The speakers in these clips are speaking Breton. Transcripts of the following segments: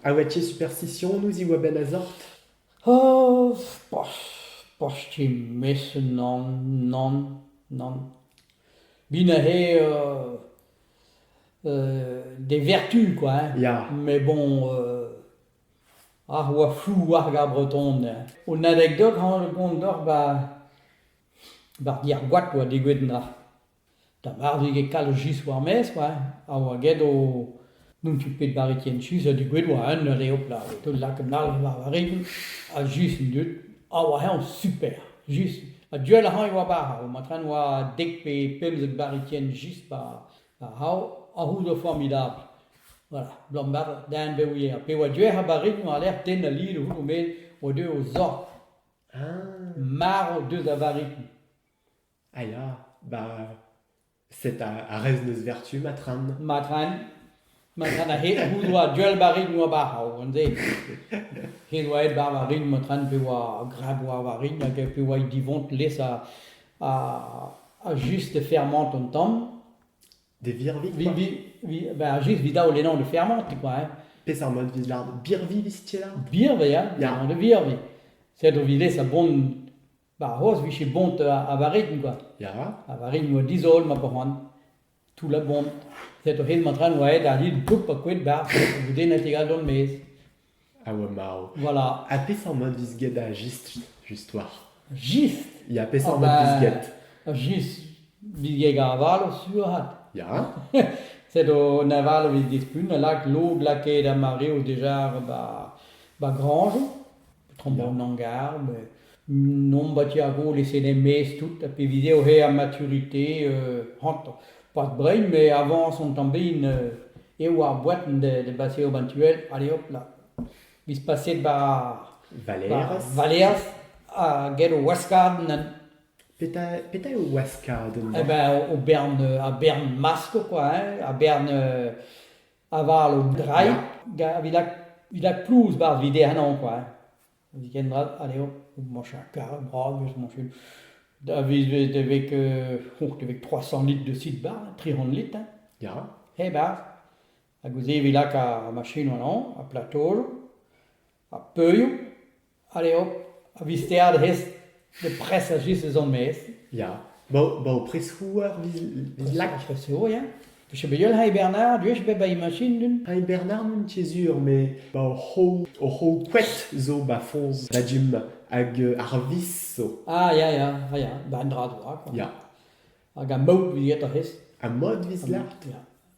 A oa tu superstisionoù diwar-benn a zort? Oh, poch, poch ti mesenn nann, nann, nann. Bin a rê euh euh d'e vertu quoi hein. Ya. Mais bon, euh ar oa flou ar gar breton hein. Un anekdot hañ gont doc'h 'ba 'ba ar gêr-goad oa degouezhet 'na. Da varvig e kalz just war-maez oa, ha oa get o... n'on ket bet barritienn sus ha dugouet oa un eur eo plat, e teu lak un all war va rigl ha just an dud, ha oa eñ super, just. Ha du all ac'hañ e oa bara, oa matren oa dek pe pemzek barritienn just war c'hao a c'houdo formidabl, voilà, bloaz mat da en bev ivez. Ha pe oa du ec'h a ba rigl oa lec'h den a lid o c'houdo met oa deuet o zor. Marv deus a varrikl. Ah ya, ba... set a, a rez n'eus vertu, Matran. Matran, Matran a-hed he doa duell-barrek noa barc'hav, an den. He doa aet bar war-rin, Matran, pe oa grab war-war-rin, hag pe oa he divont les a, a, a just de fermant an tamm. De virvik, Vi, quoi. vi, vi, ben, just vi dao lenan de fermant, quoi, hein. Peseurt mod vit lard? Birvi vis tier? Birvi, hein, Ja. de birvi. Sed o vi les a bon 'Ba c'hoazh 'vije bon 'ta a varin kwa, ya, a varin 'oa dizol ma boan, toullañ bon, set oc'h aet ma traoñ 'oa aet ar yun poulp ha koet 'barzh, goudennet e galon 'maez. A oa marv. Voilà. Ha peseurt mat 'vez get ar jistr justwar? Jistr? Ya, peseurt mat 'vez get? Ar jistr 'vit get ar valo sur-hat. Ya? Set an avalo 'vit dispun a lak log lakaet ar mareoù deja 'ba grañjoù. Daoulagn garb, nomp a ti ar golez en em maez tout, ha pevit eo re ar maturité hantañ. Pas brein, met avañs an tamm den eo ar boan da baseout an tu all, allez hop là. Biz paset bar Valerez. Valerez, ha get ho waskadenn. Petra, petra eo waskadenn? Eh ben, o bern, ar bern masko, quoi, hein, ar bern aval un drailh evit lakaat plouz 'barzh vide ennañ kwa evit kendalc'h anezho moa cher karet bras eus mon fil da vizit e vez e vez trois cent litres de site bar tri c'hant litres hein ya hep berzh hag ouzh se evit lakaat ar machin ennañ ha platojoù ha peurioù, allez hop, a-vistead hes de pres a just ez on maez. Ya, ba ba ho pres-houarn viz viz lak. Pres-houarn, ya. Vije bet ul Hai Bernard, duech bet ba imagin dun. Hai Bernard n'on ket sur, mais ba hor c'hoù hor c'hoù koet zo ba foñs da gym hag euh, ar vis zo. Ah ya ya, ah ya, ba un dra doa quoi. Ya, Hag a maout 'viet hes. ha mod viz lart. Ya.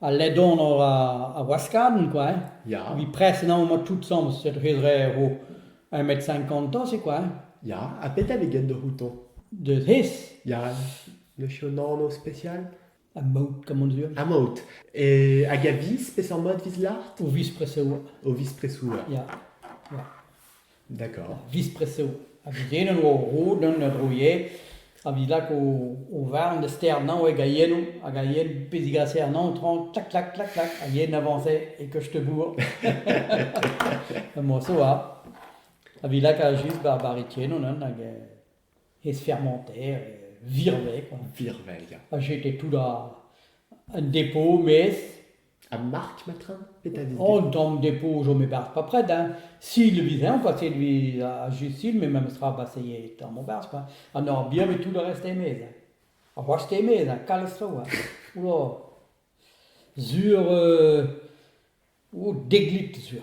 Al ledanor a waskadenn kwa hein. Ya. Evit prest emaomp o toutsamm set re-zre ro un mètre cinquante c'est quoi hein? Ya, ha pedet eget da c'houto? Deus hes. Ya, lech un anv spesial? A maout comme on dit. Amaout. E, hag a viz, peseurt mod viz lart? O viz preseoù. O viz presoù. Ya. Ya. D'accord. Viz-press eo. Ha gagnet eo o roud gant ur roier a vez lak o, o varn da sternañ hag a yen hag a yen pe zigaser anañ traoñ, klak, klak, klak, klak, a yen avañse e koste-bourr. Moa zo a. A vez lakaat just ba'r barretiennon hag eh ezfermanter, eh virvel quoi. Virvel, ya. Ha j'étais tout da un dépôt, mes Ha Mark Matrin Petra 'vez Oh, un tamm depo zo me berzh pas près hein. Sil vez eñ quoi, c'est lui à Jusil, mais memestra bah ça y est, tamm o berzh quoi. Ha n'or bien met tout le reste e-maez hein. Ha boast e-maez hein, kalz traoù hein. Oula. Sur euh, oh, deglit sur.